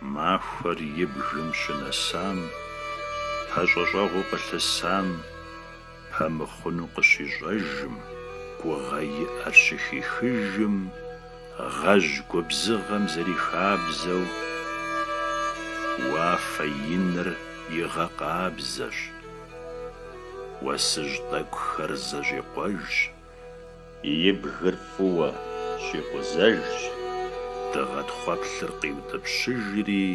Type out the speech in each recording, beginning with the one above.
Махуэр и бгым щынэсам, пэщӏэщӏэгъуу къылъысам, пэмыхъуну къыщищӏэжым, гугъэ иӏэр щыхихыжым, гъэжь губзыгъэм зэрихабзэу, уафэ иныр игъэкъабзэщ, уэсыжь тӏэкӏухэр зэщӏикъуэжщ. И бгыр фӏыуэ щӏикъузэжщ, дыгъэ тхъуэплъыр къиутӏыпщыжри,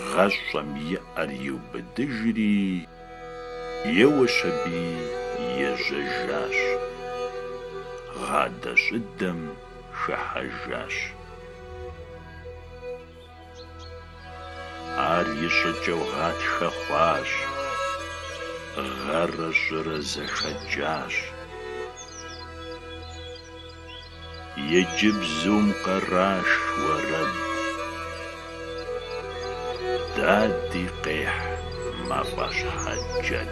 гъэщӏэм и ӏэр иубыдыжри, еуэщ аби ежьэжащ, гъадэщӏыдэм хыхьэжащ. Ар и щӏыкӏэу гъатхэ хъуащ, гъэрэ щӏырэ зэхэкӏащ. Иджы бзум къраш уэрэд. Дади къехь мафӏэщхьэ джэд.